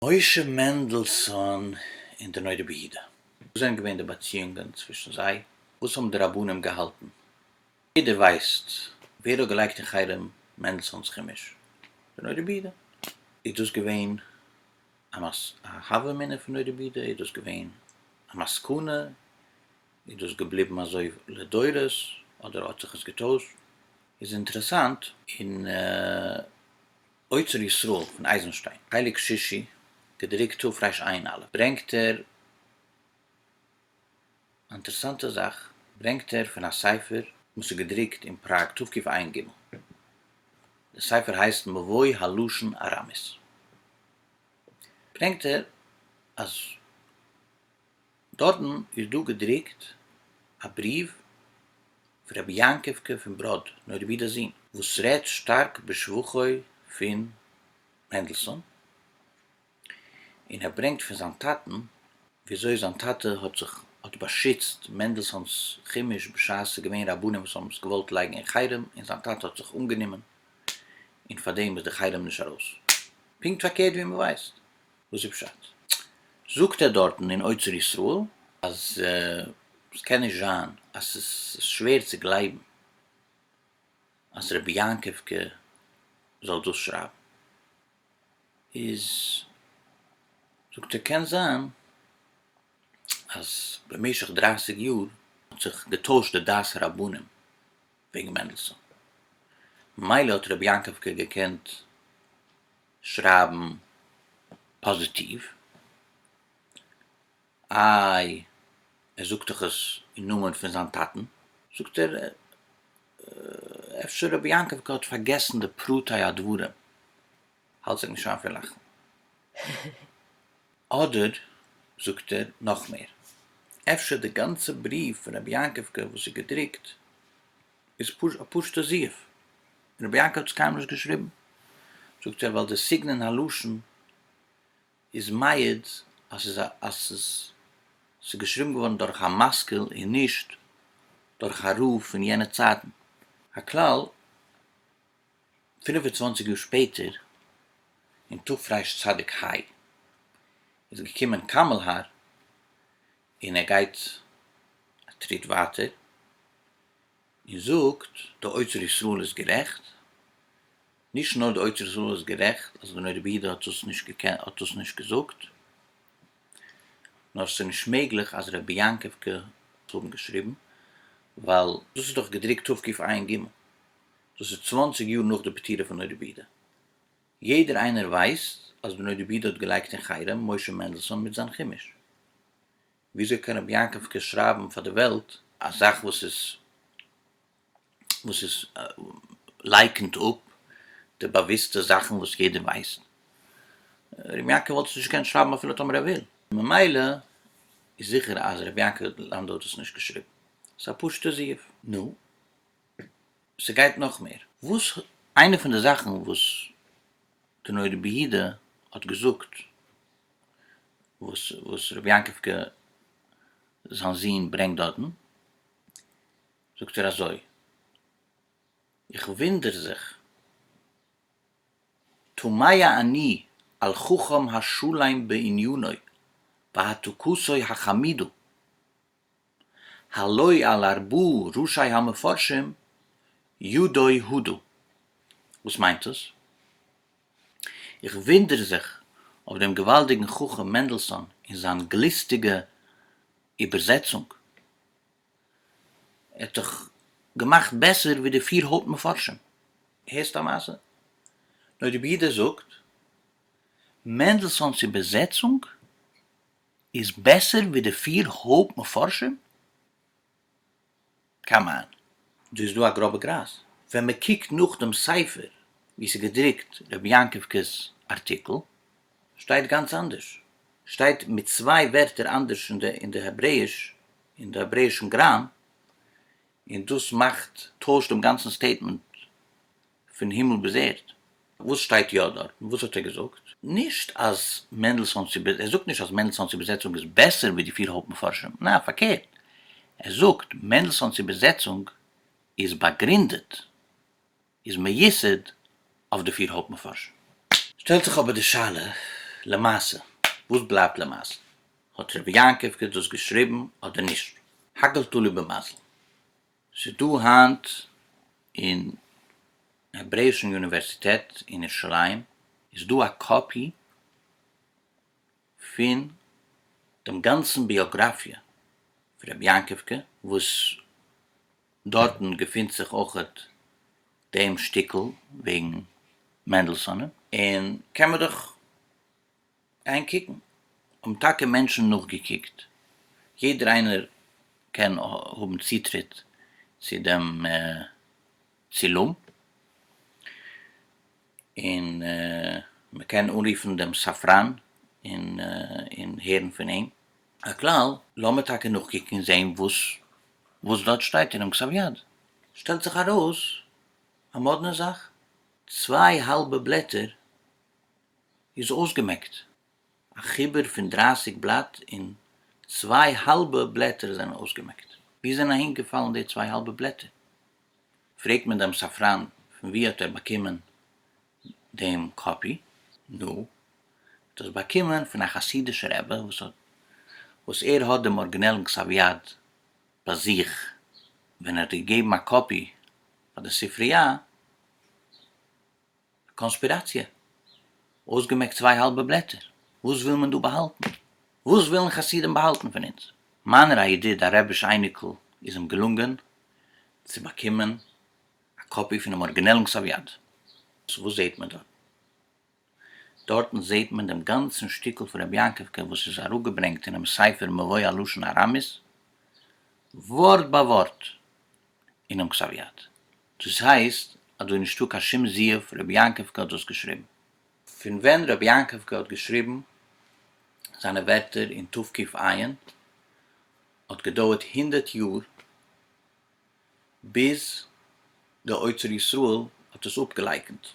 משה מענדלסאן און די נודע ביהודה, וואס זענען געווען די באציאונגען צווישן זיי? וואס האבן די רבנים געהאלטן? יעדער ווייסט ווער האט געלייגט אין חרם מענדלסאן'ס חומש? די נודע ביהודה. איז דאס געווען א הווא אמינא פון נודע ביהודה? איז דאס געווען א מסקנא? איז דאס געבליבן אזוי לדורות? אדער האט זיך עס געטוישט? איז אינטערעסאנט. און אוצר ישראל פון אייזנשטיין, חלק שישי, געדרוקט תרפ ר ע"א, ברענגט ער א אינטערעסאנטע זאך, ברענגט ער פון א ספר וואס איז געדרוקט אין פראג תקפ ג, דער ספר הייסט מבוי הלשון ארמית, ברענגט ער אז. דארטן איז דא געדרוקט א בריוו פון רבי יעקב'קע פון בראד, נוירווידעזין, וואס רעדט שטארק בשבחו פון מענדלסאן, און ער ברענגט פון זיין טאטן וויאזוי זיין טאטע האט זיך האט באשיצט מענדלסאן'ס חומש בשעת ס'איז געווען רבנים וואס האבן עס געוואלט לייגן אין חרם און זיין טאטע האט זיך אנגענומען און פארדעם איז די חרם נישט ארויס. פונקט פארקערט ווי מ'ווייסט. וואס איז פשט? זאגט ער דארטן אין אוצר ישראל אז עס קען נישט זיין אז עס איז שווער צו גלייבן אז רבי יעקב קה זאל דאס שרייבן, איז זאגט ער קען זיין אז במשך דרייסיג יאר האט זיך געטוישט די דעת הרבנים וועגן מענדלסאן, ממילא האט רבי יעקב קה געקענט שרייבן פאזיטיוו, איי ער זאגט דאך עס אין נאמען פון זיין טאטן, זאגט ער אפשר רבי יעקב האט פארגעסן די פרטי הדברים, האלט זיך נישט איין פון לאכן, אדער זאגט ער נאך מער, אפשר די גאנצע בריוו פון רבי יעקב וואס איז געדרוקט איז פשוט א פשוטע זיוף. רבי יעקב האט עס קיינמאל נישט געשריבן. זאגט ער ווייל די סגנון הלשון איז מעיד אז ס'איז א אז ס'איז ס'איז געשריבן געווארן דורך א משכיל און נישט דורך א רב פון יענע צייטן. הכלל, פֿינף און צוואַנציק יאר שפעטער, אין תרפ ר צדיק ה, איז געקומען קאמעלהאר, און ער גייט א טריט ווייטער און זאגט די אוצר ישראל איז גערעכט, נישט נאר די אוצר ישראל איז גערעכט אז דער רבי דא האט דאס נישט געקענט האט דאס נישט געזאגט, נאר ס'איז נישט מעגליך אז רבי יעקב קע האט האבן געשריבן, ווייל דאס איז דאך געדרוקט תקפ עיין ג, דאס איז צוואנציג יאר נאך די פטירה פון דער רבי ד. יעדער איינער ווייסט אז בנו דבי ד האט געלייגט אין חרם משה מענדלסאן מיט זיין חומש. וויאזוי קען רבי יעקב קער שרייבן פאר די וועלט א זאך וואס איז וואס איז לייקענט אפ די באוויסטע זאכן וואס יעדער ווייסט? רבי יעקב וואלט עס נישט געקענט שרייבן אפילו טאמער ער וויל. ממילא איז זיכער אז רבי יעקב לאנדא האט עס נישט געשריבן. ס'איז א פשוטע זיוף. נו, ס'גייט נאך מער. וואס איינע פון די זאכן וואס די נוי רבי יהודה האט געזאגט וואס וואס רבי יעקב ק זיין זון ברענגט דארטן זאגט ער אזוי איך וואונדער זיך תמיה אני על חכם השלם בעניני והתוקסו החמידו הלואי על ארבעה ראשי המפרשים יודעי הודו. וואס מיינט דאס? איך וואונדער זיך אויף דעם געוואלדיגן חכם מענדלסאן און זיין גליסטיגע איבערזעצונג. ער האט דאך געמאכט בעסער ווי די פיר הויפט מפרשים. הערסט א מעשה? נוי די ברידער זאגט, מענדלסאן'ס איבערזעצונג איז בעסער ווי די פיר הויפט מפרשים? קאמאן. דא איז דא א גראבע גרייז, ווען מען קוקט נאך דעם ספר ווי ס'איז געדרוקט רבי יעקב ק'ס ארטיקל, שטייט גאנץ אנדערש, שטייט מיט צוויי ווערטער אנדערש אין די אין די העברעאיש, אין די העברעאישן גראם, און דאס מאכט, טוישט דעם גאנצן סטעיטמענט פון הימל ביז ערד. וואס שטייט יא דארט? וואס האט ער געזאגט? נישט אז מענדלסאן'ס איבער, ער זאגט נישט אז מענדלסאן'ס איבערזעצונג איז בעסער ווי די פיר הויפט מפרשים, ניין פארקערט, ער זאגט מענדלסאן'ס איבערזעצונג איז באגרינדעט, איז מיוסד אויף די פיר הויפט מפרשים. שטעלט זיך אבער די שאלה, למעשה, וואס בלייבט למעשה? האט רבי יעקב דאס געשריבן אדער נישט? הכל תלוי במזל. ס'איז דא היינט אין העברעישן אוניווערסיטעט אין ירושלים איז דא א קאפי פון דעם גאנצן ביאגראפיע פון רבי יעקב קה וואס דארטן געפינט זיך אויכעט דעם שטיקל וועגן מענדלסאנען און קען מען דאך גיין קוקן, האבן טאקע מענטשן נאכגעקוקט, יעדער איינער קען האבן צוטריט צו דעם צילום, און מען קען אנרופן דעם ספרן און הערן פון אים. הכלל, לאמיר טאקע נאכקוקן און זען וואס דארט שטייט אינעם כתב יד. שטעלט זיך ארויס א מאדנע זאך, צוויי האלבע בלעטער איז אויסגעמעקט. א חיבור פון דרייסיג בלאט און צוויי האלבע בלעטער זענען אויסגעמעקט. וואו זענען אהין געפאלן די צוויי האלבע בלעטער? פרעגט מען דעם ספרן פון וואו האט ער באקומען דעם קאפי? נו, ער האט עס באקומען פון א חסידישער רבי וואס האט וואס ער האט דעם ארגינעלן כתב יד ביי זיך ווען ער האט געגעבן א קאפי פאר די ספריה. קאנספיראציע, אויסגעמעקט צוויי האלבע בלעטער, וואס וויל מען דא באהאלטן? וואס ווילן חסידים באהאלטן פון אונז? מיינער א ידיד א רביש אייניקל איז אים געלונגען צו באקומען א קאפי פונעם ארגינעלן כסף יד. סאו וואס זעהט מען דארטן? דארטן זעהט מען דעם גאנצן שטיקל פון רבי יעקב קאר וואס איז אראפגעברענגט אינעם ספר מבוי הלשון הארמית ווארט ביי ווארט אינעם כתב יד. דאס הייסט אז דא איז נישטא קיין שום זיוף רבי יעקב גאט דאס געשריבן. פון ווען רבי יעקב גאט האט געשריבן זיינע ווערטער אין תו' ק' עיין האט געדויערט הונדערט יאר ביז די אוצר ישראל האט עס אפגעלייקענט,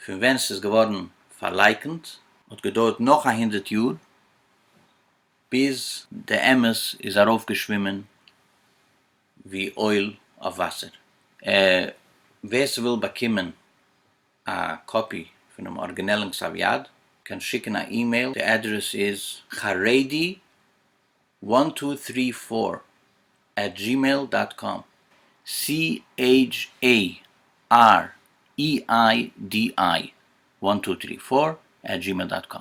פון ווען ס'איז געווארן פארלייקענט האט געדויערט נאך א הונדערט יאר ביז די אמת איז ארויפגעשווימען. ווי אויל אויף וואסער. ווער ס'וויל באקומען א קאפי פונעם ארגינעלן כתב יד קען שיקן א אימעיל, די אדרעס איז חרדי וואן טו טרי פאר עט דזשימעיל דאט קאם. CHAREIDI וואן טו טרי פאר עט דזשימעיל דאט קאם.